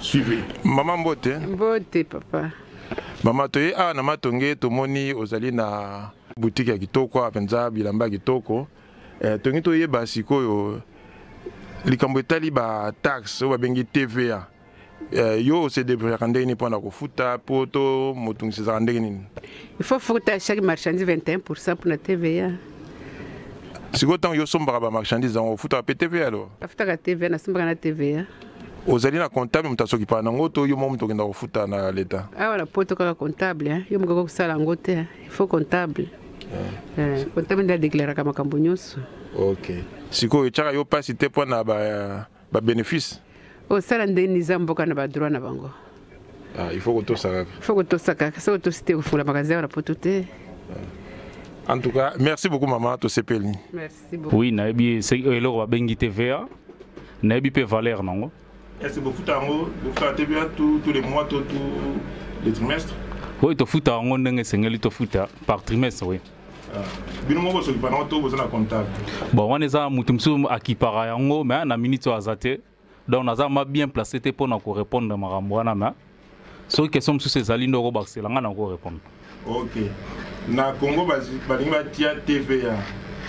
Suivez. Maman Mbote. Mbote, papa. Maman, tu es à Namatongue, tu moni, ozali na boutique à Kitoko, à Penza, Bilamba Kitoko. Eh, Tongi, tu es basi, koyo. Likambo etali ba taxe oyo babengi TVA eh, yo osedebrouillaka ndenge nini mpo na kofuta mpo to motungisi ezalaka ndenge nini il faut futa chaque marchandise 21 pourcent mpo na TVA sikoyo ntango yo osombaka ba marchandise yango ofutaka mpe TVA alors afutaka TVA nasombaka na TVA ozali na comptable moto asokipana nango to yo moko moto okenda kofuta na leta awa na poto kaka comptable eh. yo mokoki kosala yango te eh. il faut comptable ah. eh, comptable nde adeklaraka makambo nyonso ok sikoyo etyaka yo mpasi te mpo na babénéfice ba osala nde niza mboka na badroit na bango ah, il faut kotosa kaka il faut kotosa kaka soki otosi te kofungola magasin awa na poto te ah. en tout cas merci beaucoup mama tosepeli merci Oui, nayebi eloko babengi TVA, nayebi pe valeur nango. Est-ce que bofuta yango, bofuta TVA tous les mois, tous les trimestres? Oui, tofuta yango ndenge esengeli tofuta par trimestre, oui. Ah. bino moko bosoki bango to boza na comptable bon wana eza moto mosusu akipaka yango mais na minute oyo aza te donc naza ma bien placé te mpo na korépondre makambo wana ma soki question mosusu ezali nde okobakisela ngai nako répondre ok na congo balingi batia tva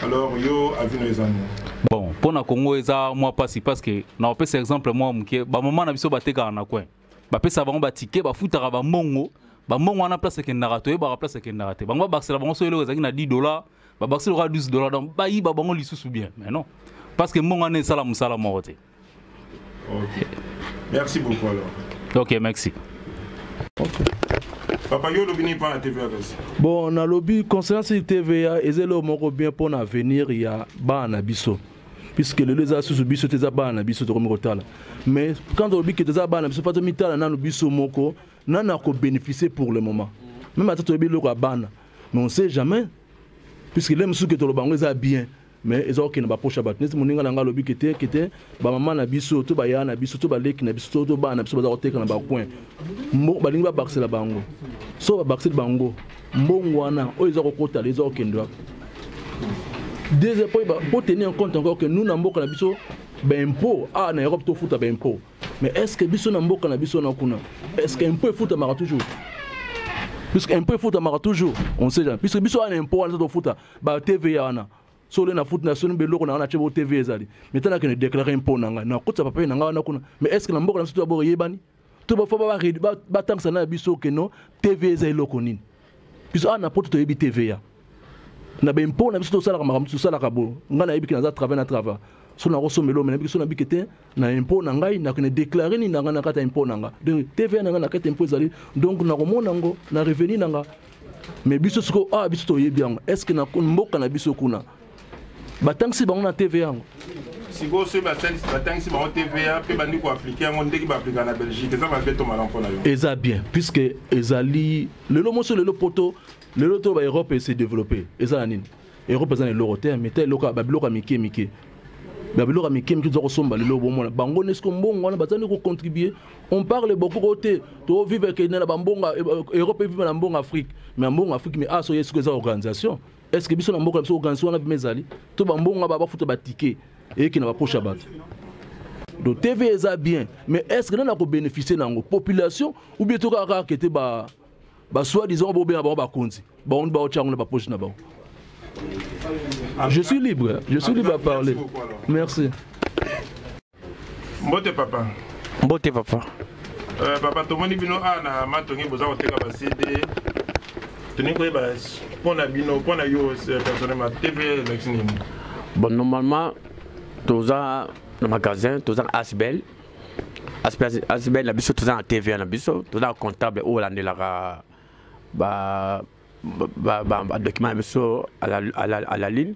alors yo avis no eza nini bon mpo na congo eza mwa mpasi parce que nakopesa exemple mwa moke bamama na biso batekaka na coin bapesaka bango batike bafutaka bambongo bambongo wana place ekendaka toyebaka place ekendaka te bango babakisela bango so eloko ezalaki na 10 dollars babakisi lokola 12 dollar donc bayiba bango lisusu bien mais non parce que mbongo wana esala mosala moko te okay. merci beaucoup alors ok merci okay. papa yo olobi nini mpo na tva kasi bon nalobi concernant sili tva eza eloko moko bien mpo na avenir ya bana na biso puisque lelo eza susu biso te eza bana na biso tokomi kotala mais quand olobi ke toza bana na biso mpo tomitala nanu biso moko nani akobénéficie pour le moment meme ata toyebi eloko ya bana mais on sait jamais puisque le mosusu ke toloba yango eza bien mais eza kokende bapoche ya bato neti moninga na ngai alobi kete kete bamama na biso to bayaya na biso to baleki na biso to bana na biso baza koteka na bacoin balingi babakisela bango so babakiseli bango mbongo wana oyo eza kokotala eza kokende wapi deuxième mpo tenir en compte encore que nous na mboka na biso baimpôt awa ah, na europe tofuta baimpôt mais est ce que biso na mboka na biso na kuna est ce que impôt efutamaka toujours puisque impôt efutamaka toujours on sait jamais puisque biso wana impôt wana tofuta ba tva wana so ole nafuti na soni beloko na nga natye bo tv ezali mais tala kende déclare impôt na ngai nakotisa papier na ngai wana kuna mais est ce que na mboka na biso to ya boyebani to bafa batangisa na biso keno tv eza eloko nini biso awa na poto toyebi tva na bempo na biso tosalaka makambo tosalaka bo ngai nayebi ke naza travail na travail so nakosombela omena biki so nabiki te na impo na ngai nakende deklare nini na ngai na kati ya impo na ngai donc tva na ngai na kati ya impo ezali donc nakomona yango na revenu na ngai mais biso sikoyo awa ah, biso toyebi yango est ce que na mboka na biso kuna batangisi bango na tv yango sikoyo soki basalisi batangisi bango tva mpe bandi koaplike yango ndenge baaplika na belgique eza mabe to malamu mpo na yo eza bien puisque ezali lelo moso lelo poto lelo to ba europe ese développe eza na nini europe eza na eloko te mais ta eloko babiloko ya mike mike babiloko ya mike mike toza kosomba lelo bomona bango nde siko mbongo wana baza nde kocontribue on parle beaucoup ko te tovivre kende na bambongo europe eviva na mbongo afrique mais mbongo afrique mais aso ye siko eza organisation est ce que biso na mboka na biso organisation wana bima ezali to bambongo aba bafuta batike eyeke na bapoche ya bato donc tv eza bien mais est ce que nani akobénéficie na yango population ou bien tokaka kaka kete ba basoi disant bobenga bango bakonzi bango nde baotya yango na bapoche na bango je suis libre je suis libre à parler merci mbote papa mbote papa euh, papa tomoni bino a ah, na matongi boza koteka basede tolingi koyeba mpo na bino mpo na yo euh, personnellement tv elakisi nini bon normalement toza na magasin toza na asbel asbel na biso toza na tva na biso toza na comptable oyo alandelaka ba ba, ba, ba, ba document na biso à la, à la, à la ligne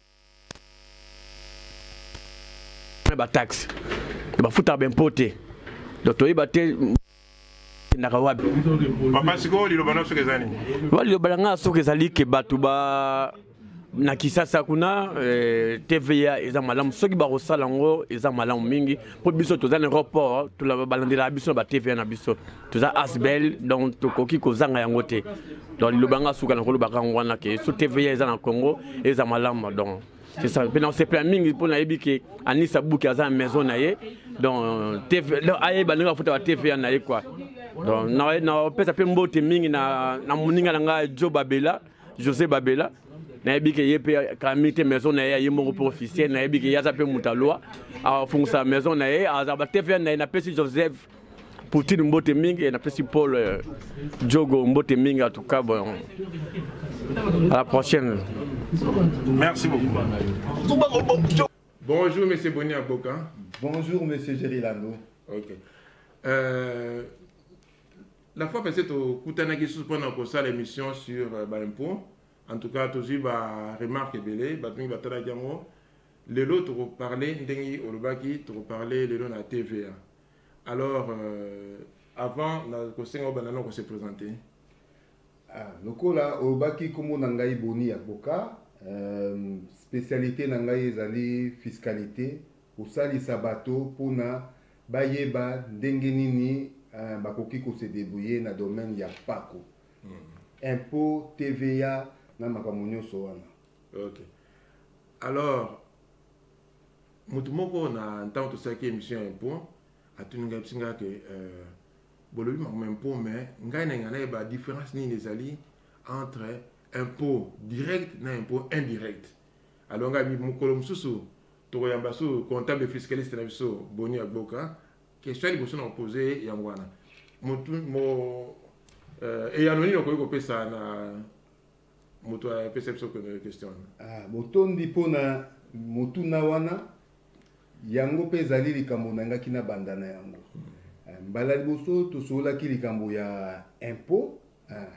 na ba taxe bafutaka bempo te donc toyeba te endaka wapi papa sikoyo liloba na soki eza nini wa liloba na ngai soki ezali ke bato ba na kisasa kuna eh, tva eza malamu soki bakosala yango eza malamu mingi mpo biso toza na aéroport balandelaka biso na ba tva na biso toza asbel donc tokoki kozanga yango te donc liloba nga suka nakolobaka yango wana ke so tva eza na congo eza malamu donc c'est ça mpe nasepela mingi mpo nayebi ke anisa buki aza na maison na ye donc tv donc ayeba ndenge afuta ba tva na ye kua donc napesa mpe mbote mingi na moninga na ngai jo babela josé babela nayebi ke ye mpe kami te maison na ye aye moko mpe officiel nayebi ke ye aza mpe moto alwa afungusa maison na ye aza ba tva na ye napesi joseph Poutine mbote mingi eh, napesi Paul eh, Diogo mbote mingi atuka bon à la prochaine merci beaucoup bonjour monsieur Boni Aboka bonjour monsieur Jerry Lando ok euh, la fois passée tokutanaki susu mpo na kosala émission sur euh, baimpôt en tout cas tozwi baremarque ebele bato mingi batalaki yango lelo tokoparle ndenge olobaki tokoparle lelo na tva alors euh, avant nakosenga obanda na kose présente ah, lokola olobaki nkombo na ngai boni ya boka euh, spécialité na ngai ezali fiscalité kosalisa bato mpona bayeba ndenge nini euh, bakoki kose debrouiller na domaine ya mpako mm. impôt tva na makambo nyonso wana okay. alors moto moko na ntango tosalaki émission ya impont atuni ngai biso ngai ke euh, bolobi makambo impôt mais ngai na engana yeba différence nini ezali entre impôt direct na impôt indirect alors ngai mokolo mosusu tokoyamba so comptable fiscaliste na biso boni agboka question ya liboso na kopose yango wana eyano euh, nini okoki kopesa na moto apesa biso première question wana ah, botondi mpo na motuna wana yango mpe ezali likambo nangaki na banda na yango hmm. eh, mbala liboso tosololaki likambo ya impôt eh,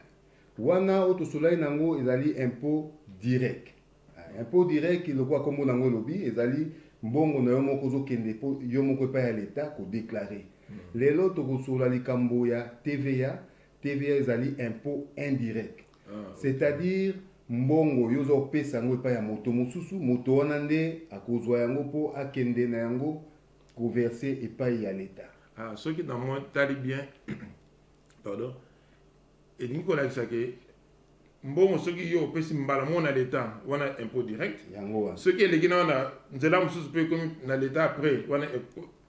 wana oyo tosololaki na yango ezali impôt direct eh, impôt direct lokola nkombo na yango elobi ezali mbongo na yo moko ozokende mpo yo moko epai ya leta kodeklare hmm. lelo tokosolola likambo ya tva TVA ezali impôt indirect. Ah, okay. C'est-à-dire mbongo yo oza kopesa yango epai ya moto mosusu moto wana nde akozwa yango mpo akende na yango koverse epai ya leta ah, soki na moi tali bien pardon elingi kolakisa ke mbongo soki yo opesi mbala moko na leta wana impôt direct soki eleki na wana nzela mosusu mpe ekomi na leta après wana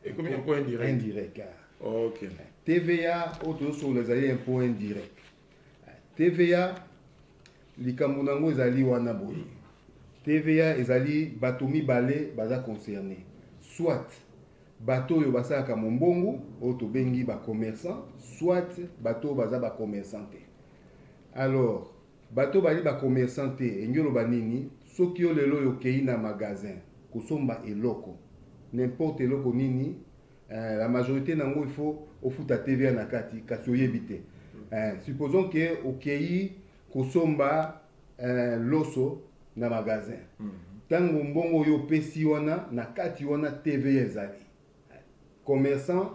ekomi impôt indirect indirect ah. ok tva oyo tozosokola ezali impôt indirect tva likambo na yango ezali wana boye tva ezali bato mibale baza concerne soit Bato oyo basalaka mombongo oyo tobengi ba commerçants soit bato oyo baza ba commerçants te. Alors bato bali ba commerçants te engi oloba nini? Soki yo lelo oyo okei na magasin kosomba eloko n'importe eloko nini eh, la majorité nango il faut ofuta TVA na kati kasi oyebi te eh, supposons que okei kosomba eh, loso na magasin ntango mm -hmm. mbongo oyo opesi wana na kati wana tva ezali commerçant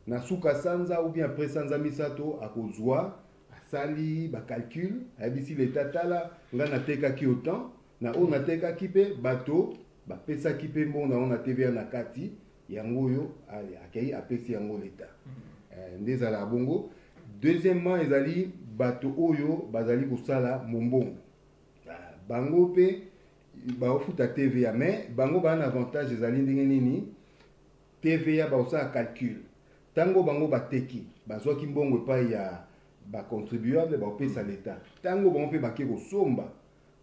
na suka sanza ou bien après sanza misato akozwa asali bacalcule ayebisi leta tala ngai natekaki otemp na oyo natekaki mpe bato bapesaki mpe mbongo na yango na tva na kati yango oyo akei apesi yango leta eh, nde ezalaka bongo deuxièmement ezali bato oyo bazali kosala mombongo ah, bango mpe baofuta tva mais bango baa na avantage ezali ndenge nini tva bakosala calcul ntango bango bateki bazwaki mbongo epai ya bacontribuable bakopesa leta ntango bango mpe bake kosomba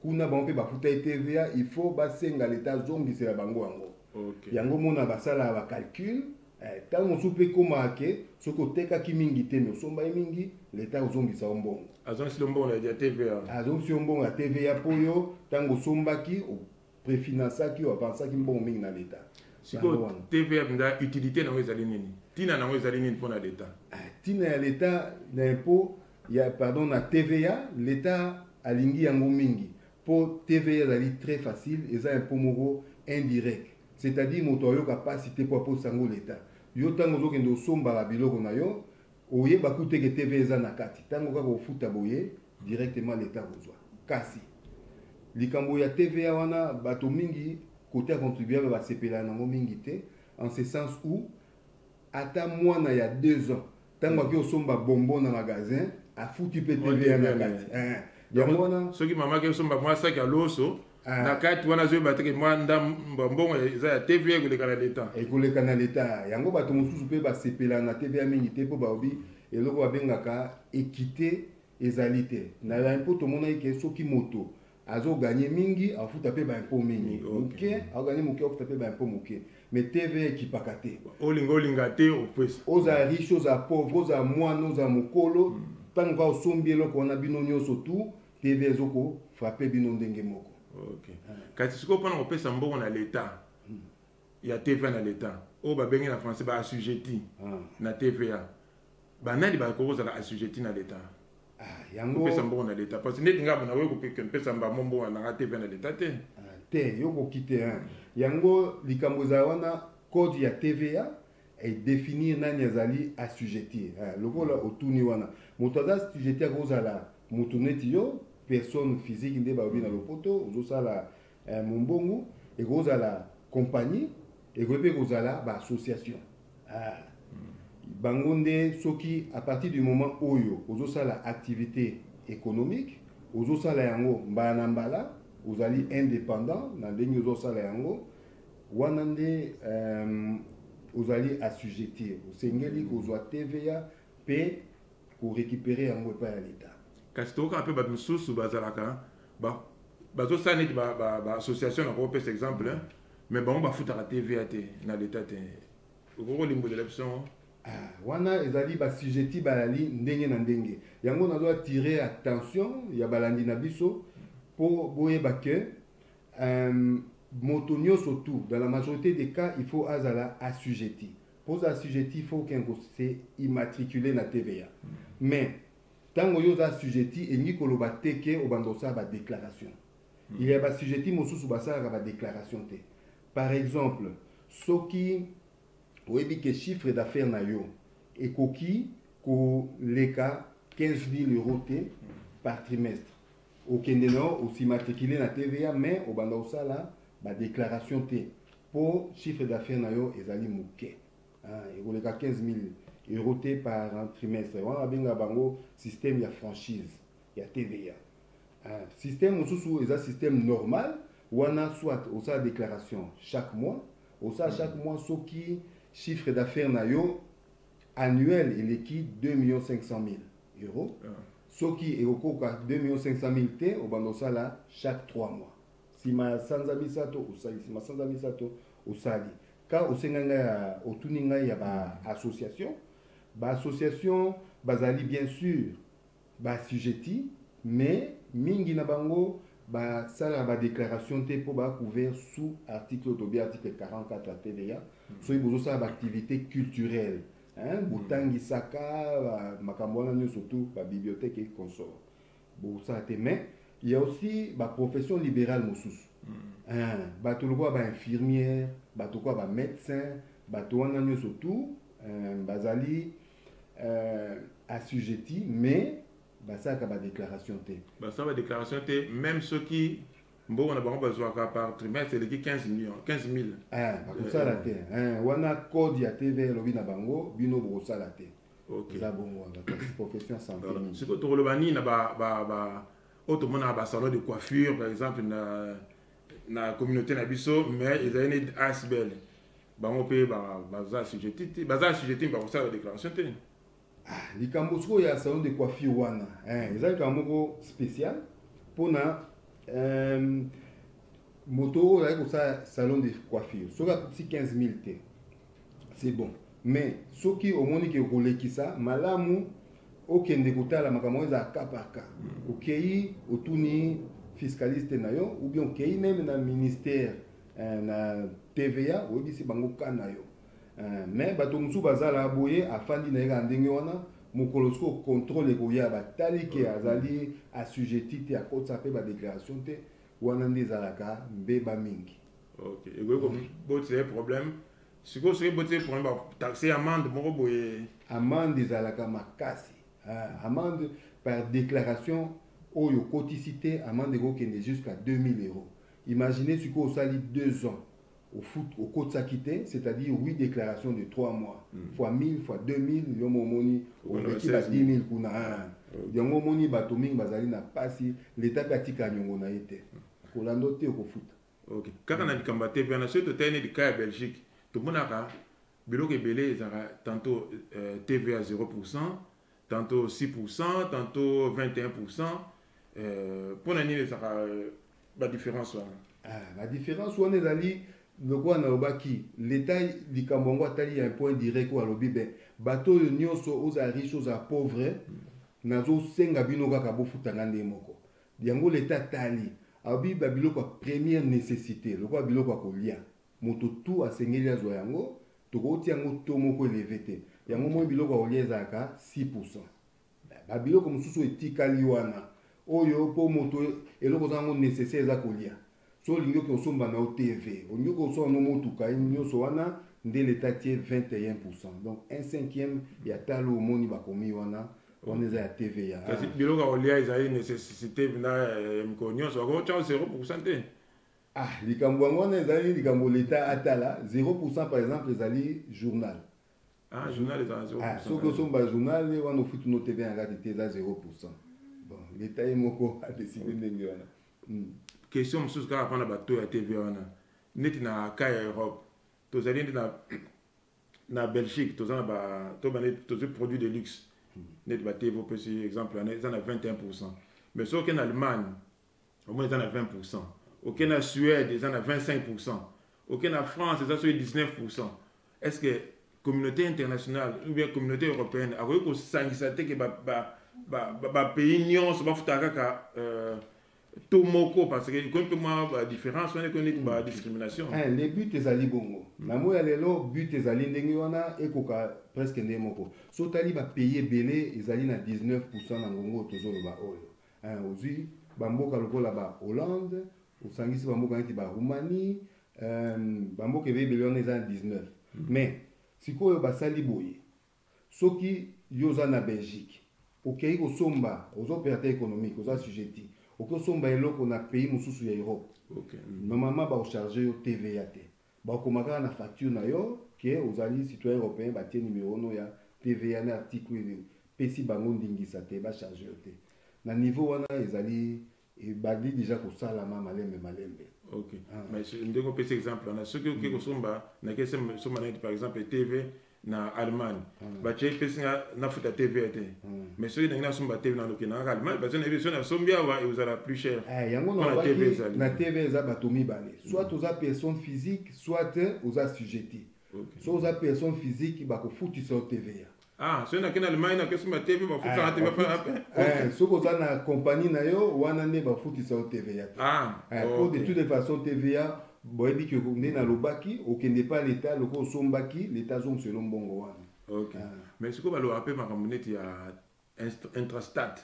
kuna bango mpe bafutaki tva il faut basenga leta azongisela bango yango okay. yango mona basalaka bacalcule eh, ntango mosusu mpe ekomaka ke soki otekaki mingi te me osombaki mingi leta akozongisa yo mbongo azongisi yo mbongo ya tva azongisi yo mbongo ya tva mpo yo ntango osombaki prefinansaki yo avansaki mbongo mingi na leta sikoyo tva mpenza utilité nango ezali nini ntina nango ezali nini mpo na leta ntina ah, ya leta na impo ya pardon na tva leta alingi yango mingi mpo tva ezali très facile eza impo moko indirect c'est-à-dire moto ayoka mpasi te mpo aposa yango leta yo ntango ozokende osombaka biloko na yo oyeba kuteke tv eza na kati ntango kaka ofuta boye directement l'etat akozwa kasi likambo ya tva wana bato mingi kote ya contribuable basepelaka nango mingi te en ce sens où ata mwana ya deux ans ntango ake osomba bombo na magasin afuti mpe tva na kati eh, eh. yango wana soki mama ake osomba mwa saki ya loso Ah. na kati wana azoyeba te ke mwa ndambo mbongo eza ya tva ekoleka na leta ekoleka na leta yango bato mosusu mpe basepela na tva mingi te mpo baobi eloko babengaka ekite ezali te na baimpo tomonaki ke soki moto azoganye mingi afuta mpe baimpo mingi moke aganye moke afuta mpe baimpo moke me tv ekipaka te olinga olinga te opesa oza riche oza pauvre oza mwana oza mokolo ntango hmm. kaka osombi eloko wana bino nyonso tu TV ezo ko frapper bino ndenge moko. Okay. Ah. Kasi sikoyo mpona kopesa mbongo na l'etat hmm. ya TVA na l'etat oyo babengi na français ba assujetti ah. na TVA banani bakoki kozala assujetti na l'etat ah, yango kopesa mbongo na l'etat parce ndeti ngai nakoki kopeka mpesa mbamo mbongo na ngai TVA na l'etat te ah, te yo koki te yango likambo ezala wana code ya TVA et définir nani azali assujetti hein, lokola otuni wana moto aza assujetti akozala moto neti yo personne physique nde balobi na lopoto ozosala eh, mombongo ekozala compagnie ekoki mpe kozala baassociation ah. bango nde soki à partir du moment oyo ozosala activité économique ozosala yango mbala na mbala ozali indépendant na ndenge ozosala yango wana nde euh, ozali assujettir osengeli kozwa tva mpe korécupere yango epai ya leta kasi tokokaka mpe bato mosusu bazalaka bazosala neti baassociation na kopesa exemple mm -hmm. mais bango bafutaka tva te na leta te okoki kolimbolela biso yango ah, wana ezali basujeti bayali ndenge na ndenge yango nazo attire attention ya balandi na biso mpo boyeba ke Euh, moto nyonso tout dans la majorité des cas il faut azala assujetti mpo oza assujetti il faut okende kose immatricule na tva mais ntango yo oza assujetti elingi koloba te ke obanda kosala badéclaration hmm. il ya bassujetti mosusu basalaka badéclaration te par exemple soki oyebi ke chiffre d'affaires na yo ekoki koleka 15 000 euros te hmm. par trimestre okende na yo osimatricule na tva mais obanda kosala badéclaration te mpo chiffre d'affaire na yo ezali moke ah, ekoleka 15 000 euro te par trimestre wana babenga bango système ya franchise ya tva ah, système mosusu eza système normal wana soit osala déclaration chaque mois osala chaque mm. mois soki chiffre d'affaire na yo annuel eleki 2 500 000 euro ah. Soki ekokoka 2 millions 500 mille te, obanda osala chaque 3 mois. Sima ya sanza misato osali, sima sanza misato osali. Ka osenga ngai ya otuni ngai ya ba association, ba association bazali bien sûr ba assujettis, mais mingi na bango basalaka ba déclaration te mpo ba couvert sous article oyo tobi article 44 ya TVA soki bozosala ba activité culturelle hein botangisaka ba- makambo wana nyonso tout ba bibliothèque et consort bosala te mais il y a aussi ba profession libérale mosusu hein bato lokola ba infirmière bato lokola ba médecin bato wana nyonso tout hein, bazali euh, assujetti mais basalaka ba déclaration te basala badéclaration te même soki mbongo na bango bazwaka par trimestre eleki 15 million 15 mille eh, bakosala te eh, wana code ya tv elobi na bango bino bokosala te eza bongo wana profession ya sante siko tokoloba nini na oyo tomonaka basalon de coiffure par exemple na na communauté na biso mais ezali neti asbel bango mpe baza sujet te baza sujet te bakosala déclaration te Ah, likambo sikoyo ya salon de coiffure wana eh, eza likambo moko spécial mpona euh, moto oyo azali kosala salon de coiffure soki akutisi 15 000 te c'est bon mais soki omoni ke okolekisa malamu okende kotala makambo oyo ezala cas par cas hmm. okei otuni fiscaliste na yo ou bien okei meme na ministère eh, na tva oyebisi bango cas na yo Eh, mais bato mosusu bazala boye afandi na ye kaka ndenge wana mokolo soko contrôle ekoya batali ke mm. azali assujetti te akotisa mpe badéclaration te wana nde ezalaka mbeba mingi okay. ekoki kobotisa ye problème sikoyo soki ebotisa ye problème bataxe amande moko boye amande ezalaka makasi ah, amande par déclaration oyo okotisi te amande ekokende jusqu'à 2000 euros imaginez sikoyo osali 2 ans ofut okotisaki te c'est à dire oui déclaration de 3 mois mm. fois 1000 fois 2000 yo mo omoni oleki ba 10 000 kuna ah. yango omoni bato mingi bazali na mpasi leta mpe atika nyongo na ye te kolanda te okofuta ok kaka na likambo ya te mpena soki totali neti ka ya belgique tomonaka biloko ebele ezalaka tantôt euh, tva 0 pourcent tanto 6 pourcent tanto 21 pourcent euh, mpo na nini ezalaka euh, badifference wana ah, badifference wana ezali lokola nalobaki leta likambo yango atali ya point direct oyo alobi be bato oyo nyonso oza riche oza pauvre nazosenga bino kaka bofutanga ndenge moko yango leta atali alobi babiloko ya première nécessité lokola biloko ya kolia moto tout asengeli azwa yango tokoki tia yango to moko eleve te yango moi biloko ya kolia ezalaka 6 pourcent babiloko mosusu etikali wana oyo mpo moto eloko oza yango nécessaire eza kolia so olingi oke osomba na yo tv olingi oke osomba no motuka nyonso wana nde leta tie 21 pourcent donc un cinquième ya talo omoni bakomi wana wana eza ya tv ya kasi biloko ya kolia ezali nécessité na eh, mikolo nyonso bakotya 0 pourcent te Ah, likambo yango wana ezali likambo leta atala 0 pourcent par exemple ezali journal ah, journal ezala 0 ah, soki osomba journal wana ofuti no tv ya kati te eza 0 pourcent bon leta ye moko adeside ndenge wana hmm. question mosusu kaka mpona bato ya tv wana neti na ka ya europe tozali nde na na belgique toza na ba to bane tozwi produit de luxe hmm. neti ba tv opesi exemple wana eza na 21 pourcent mais soki na allemagne au moins eza na 20 pourcent oke na suède eza na 25 pourcent oke na france eza soki 19 pourcent est ce que communauté internationale ou bien communauté européenne akoki kosangisa te ke bapays nyonso bafutaka kaka euh, to moko parce que ekomi mpe mwa badifférence wana ekomi neti badiscrimination eh, le but ezali bongo mm. na moi ya lelo but ezali ndenge wana ekoka presque nde moko so otali bapays ebele ezali na 19 pourcent na ngongo tozoloba oyo eh, ozwi bamboka lokola ba hollande osangisi bamboka neti ba roumanie eh, bamboka ebele ebele wana eza na 19 mm. mais sikoyo basali boye soki yo oza na belgique okei kosomba oza opérateur économique oza sujeti oki osomba eloko na pays mosusu ya europe okay. Mm. normalement bakocharge yo tva te Bakoma kaka na facture na yo que ozali citoyen europeen, batie numero no ya TVA na article oyo epesi bango ndingisa te ba charger yo te. Na niveau wana ezali ebandi deja kosalama malembe malembe. Ok. Ah. Mais ndenge opesi exemple wana soki oke kosomba na kesomba na par exemple TV na allemagne mm. batie epesi nga nafuta tv te mm. mais soki nangi nasomba tv naloke nangaka allemagne parce nayebi soki nasombi awa ekozala plus cher eh, yango na tv eza bato mibale mm. soit oza personne physique soit oza sujeti so oza personne physique bakofutisa yo tva ah, soki nakenda allemagne nakesomba tv bafutaka eh, tv eh, soki oza na compagnie na yo wana nde bafutisa yo tva te ah, po de toute façon tva boyebi ke nde nalobaki okende epai ya leta lokola osombaki leta azongisa elo mbongo wana okay. ah. mais sikoyo balobaka mpe makambo neti ya intrastate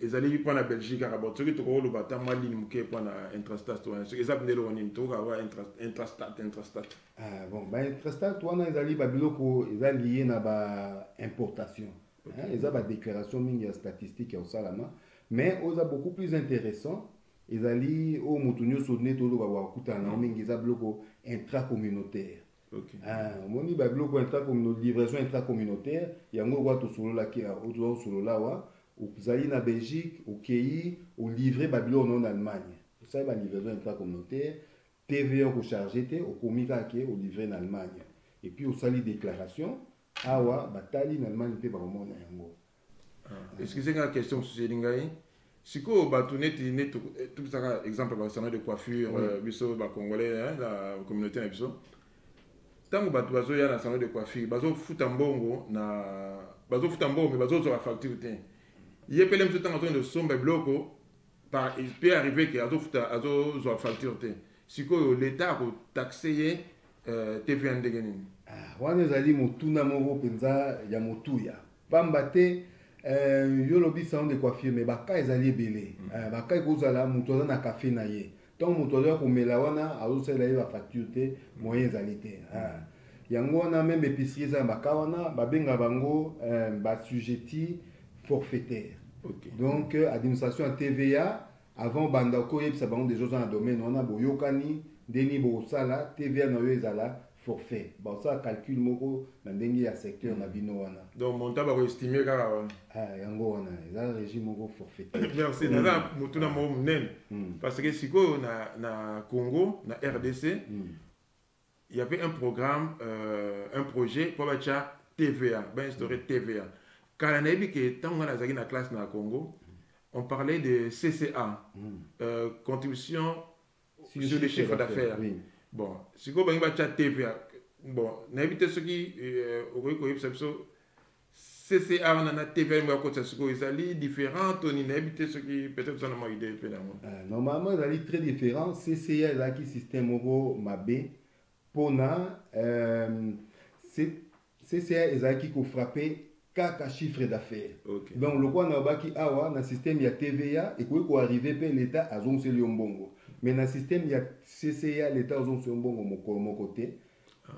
ezali mpo na belgique kaka bon soki tokoki koloba ata mwa ligne moke mpo na intrastate wana soki eza bindelo nini tokoka wa intrastate intrastate ah, bon baintrastate wana ezali babiloko eza lie na baimportation okay. eza badéclaration mingi ya statistique ya kosalama mais oyo eza beaucoup plus intéressant ezali oyo moto nyonso nde toloba bakutana na yango mingi eza biloko intracommunautaire Okay. Ah, omoni babiloko livraison intracommunautaire yango okoya tosololaki otoza kosolola awa ozali na belgique okei olivre babiloko nao na allemagne osali balivraison intracommunautaire tva okocharge te okomi kaka ke olivre na allemagne epuis osali déclaration awa batali na allemagne mpe bakomona yango ah, excuse nga question mosusu eli ngai sikoyo bato neti neti eh, topesaka exemple ya basana de coiffure euh, biso bacongolais na communauté na biso ntango bato bazoya na salon de coiffure bazofuta mbongo na bazofuta mbongo me bazozwaka facture te ye mpele mosusu ntango azonde osomba biloko pe arrive ke azozwa facture te sikoyo leta akotaxe ye euh, tv ya ndenge nini ah, wana ezali motuna moko mpenza ya motuya mpamba te euh, yo olobi salon de coiffure mais baka ezali ebele mm. euh, baka ekozala moto aza na kafe na ye ntango moto azoya komela wana azosalela ye bafacture te moyen ezali te ah. yango wana meme epicerie eza na baka wana babenga bango euh, basujeti forfaitaire okay. donc euh, administration ya tva Avant obanda oko yebisa bango deja oza na domaine wana boyokani nde nini bokosala TVA na yo ezala forfait. Bakosala calcul moko na ndenge ya secteur na bino wana. Donc montant bako estimer kaka wana. Ah yango wana eza régime moko forfaitaire. Merci naza mm. motuna moko monene mm. parce que sikoyo na na Congo na RDC mm. il y avait un programme euh, un projet mpo batya tva bainstaure mm. tva kala nayebi ke ntango ngai nazalaki na classe na congo on parlait de cca mm. euh, contribution sur, sur le chiffre d'affaires oui. bon sikoyo bangi batya tva bon nayebi te soki euh, okoki koyebisa biso CCR na na TV yango akotisa sikoyo ezali différent to nini nayebi te soki peut-être oza na mwa idée mpe na yango euh, normalement ezali très différent CCR ezalaki système moko mabe mpo na euh, CCR ezalaki kofrappe kaka chiffre d'affaires okay. donc lokola nalobaki awa na système ya TVA ekoki koarrive mpe l'État azongiseli yo mbongo mais na système ya CCR l'État azongiseli yo mbongo mokolo moko te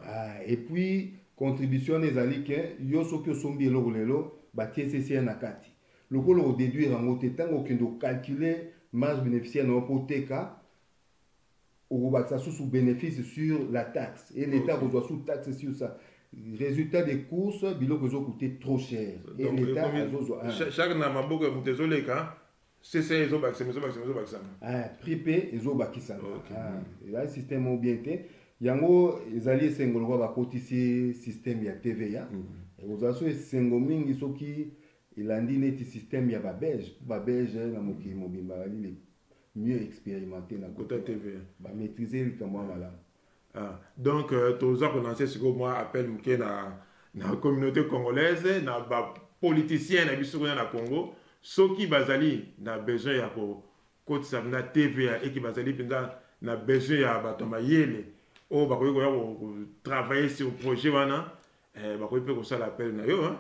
Ah, et puis contribution wana ezali ke yo soki osombi eloko lelo batie ccr na kati lokola odeduire yango te ntango okende ocalcule marge bénéficiaire na yo mpo oteka okobakisa susu bénéfice sur la taxe et l'état akozwa sous taxe sur ça résultat des courses biloko ezokute trop cher et l'état azozwa chaque na maboko ya moto ezoleka CCA ezo bakisama ezo bakisama ezo bakisama. Ah, prix pe ezo bakisama. Okay. Ah, ezali système moko bien te. Yango ezali esengo lokola bakotisi système ya TVA. Mm -hmm. Ekozala so esengo mingi soki elandi neti système ya ba belge mpo ba belge na mokili mobimba bazali mieux expérimenté na kota TVA. Ba maîtriser likambo ya malamu. Ah, donc euh, toza kolanse sikoyo mwa appel moke na, na communauté congolaise na bapoliticien na biso kuna na congo soki bazali na besoin ya kokotisa na tva eki bazali mpenza na besoin ya bato ya mayele oyo bakoki koya kotravaille sur projet wana Eh, bakoki mpe kosala appel na yo hein?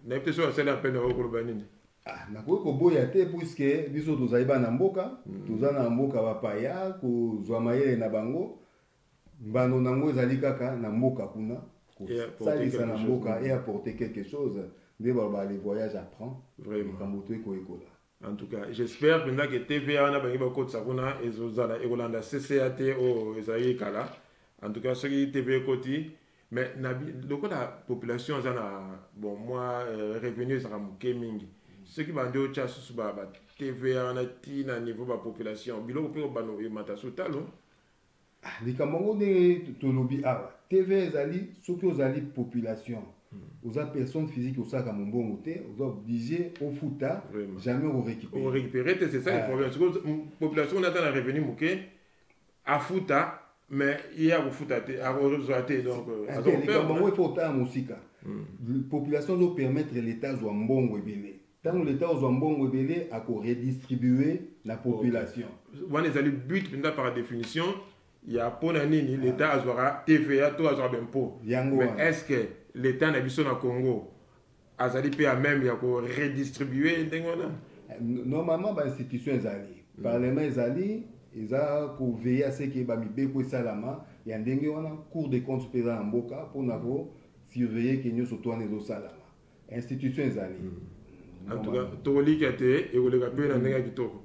nayebi te soki asali appel na yo koloba nini Ah, nakoki koboya te puiske biso tozali bana mboka mm. toza na mboka bapaya kozwa mayele na bango mbano na yango ezali kaka na mboka kuna kosalisa na mboka e apporte quelque chose nde baloba le voyage apprend likambo toyekoyekola en tout cas j'espère mpenza ke tva wana bangi bakotisa kuna ezozala ekolanda cca te oyo oh, ezalaki kala en tout cas soki tv ekoti mais lokola population aza na bon mwa euh, revenu ezalaka moke mingi soki bandi otya susu ba tva wana ti na niveau bapopulation biloko mpe obano emata sotalo Ah, likambo yango ndenge tolobi awa tv ezali soki ozali population hmm. oza personne physique osalaka mombongo te oza oblige ofuta jamais okorécupérer te c'est ça le ah. problème population oyo aza na revenu moke afuta mais ye akofuta te akozwa te donc euh, likambo yango efo otala mosika hmm. population ezopermettre l'état azwa mbongo ebele tango leta ozwa mbongo ebele ako redistribue na population okay. wana ezali but mpenza par définition ya mpo na nini leta azwaka tva to azwaka bempo yango mais est ce que leta na biso na congo azali mpe ya meme ya ko redistribue ndenge wana eh, normalement bainstitution ezali mm. parlement ezali eza koveille aseke bamibeko esalama ya ndenge wana cour de compte mpe eza na mboka mpo na kosurveille ke nyonso to wana ezosalama institution ezali hmm. en tout cas tokolika te ekoleka mpe na ndenge ya kitoko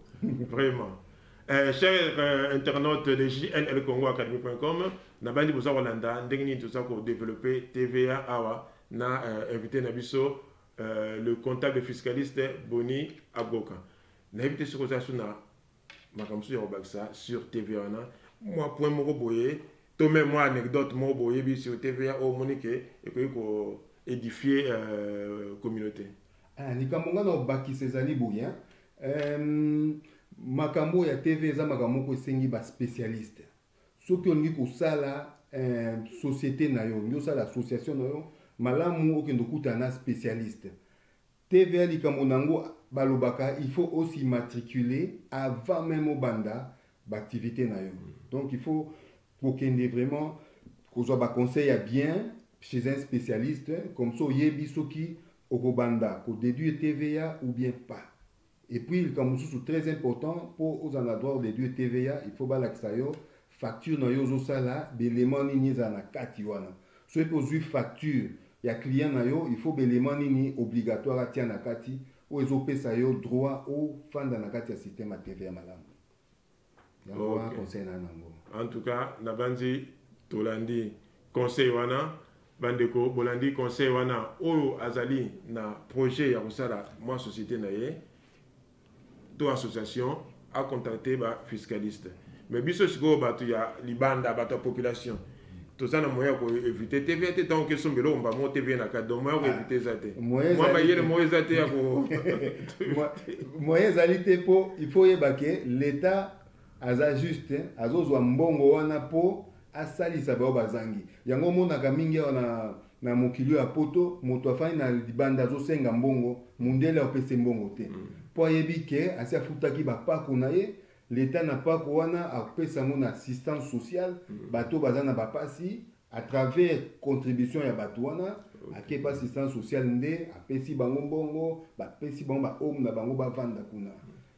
vraiment eh, cher euh, internaute de jnl congo academy com nabandi boza kolanda ndenge nini toza kodeveloppe tva awa na euh, invité na biso euh, le comptable fiscaliste boni agoka nayebi te soki oza so na makambo mosusu ya kobakisa sur tv wana mwa point moko boye to meme mwa anecdote moko boyebi sur tv ya oyo omoni ke ekoki ko édifie euh, communauté ah, likambo ngai na kobakisa ezali boye euh, makambo ya tv eza makambo moko esengi baspécialiste soki olingi kosala euh, société na yo olingi osala association na yo malamu okende okutana na spécialiste TVA likambo nango balobaka il faut o s'immatriculer avant meme obanda b'activites na yo donc il faut kokende vraiment kozwa ba conseils ya bien chez un specialiste comme ça oyebi soki okobanda ko deduire TVA ou bien pas. Et puis likambo mosusu très important mpo ozala na droit de due TVA il faut balakisa yo facture na yo ozosala baelement nini ezala na kati wana soki mpe ozwi facture ya client na yo il faut baelement nini obligatoire atia na kati oyo ezopesa yo droit ofanda na kati ya système ya TVA malamu en tout cas nabanzi tolandi conseil wana bandeko bolandi conseil wana oyo azali na projet ya kosala mwa société na ye to association acontacte ba fiscaliste mais biso sikoyo bato ya libanda bato ya population toza na moyen ya ko éviter tv te ntango kesomba eloko mba moko tv na kati donc moyen ya ko éviter eza te mwa mayele moko eza te ya ko moyen ezali te mpo il faut oyeba ke l'état aza juste azozwa mbongo wana mpo asalisa baoyo bazangi yango omonaka mingi awa na na mokili ya poto moto afandi na libanda azosenga mbongo mundele apese mbongo te mpo mm. ayebi ke asi afutaki bapako na ye L'etat na pako wana akopesa yango na assistance sociale bato oyo baza na bapasi à travers contribution ya bato wana ake pa assistance sociale nde apesi bango mbongo bapesi bango ba home na bango bavanda kuna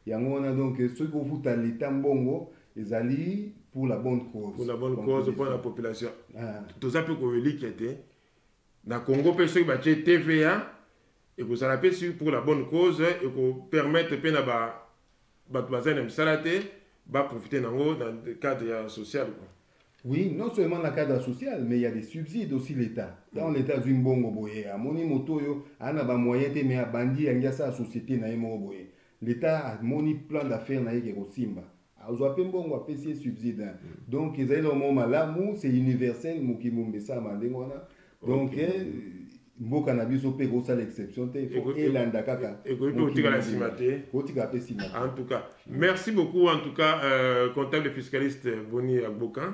yango wana donc soki kofuta l'etat mbongo ezali pour la bonne cause pour la bonne cause mpo na population ah. toza mpe koelikia te na congo mpe soki batye tva ekozala mpe soki pour la bonne cause ekopermettre mpe na bato bazali na misala te baprofite na yango na cadre ya social quoi. Oui, non seulement na cadre social, mais il y a des subsides aussi l'État. Dans mm. l'État, azwi mbongo boye, amoni moto oyo ana ba moyen te mais abandi yangi asala société na ye moko boye. L'État amoni plan d'affaires na ye ke kosimba. azwa mpe mbongo apesi ye subside hein. mm. donc ezali na mwa malamu c'est universel mokili mobimba esalama ndenge wana donc okay. eh, mboka na biso mpe ekosala exception te ifo elanda kaka ekoki mpe kotikala nsima te kotikala mpe nsima en tout cas merci beaucoup en tout cas euh, comptable fiscaliste boni agboka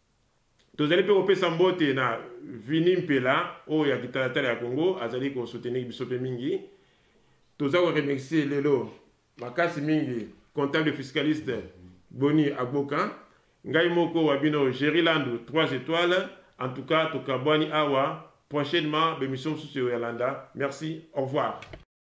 Tozali mpe kopesa mbote na Vinny Mpela oyo ya kitalatala ya Congo azali ko soutenir biso mpe mingi. Toza ko remercier lelo makasi mingi comptable fiscaliste Boni Agboka, ngai moko wa bino Jerry Landu trois etoiles. En tout cas tokabwani awa prochainement b'emission mosusu ekoya landa. Merci, au revoir.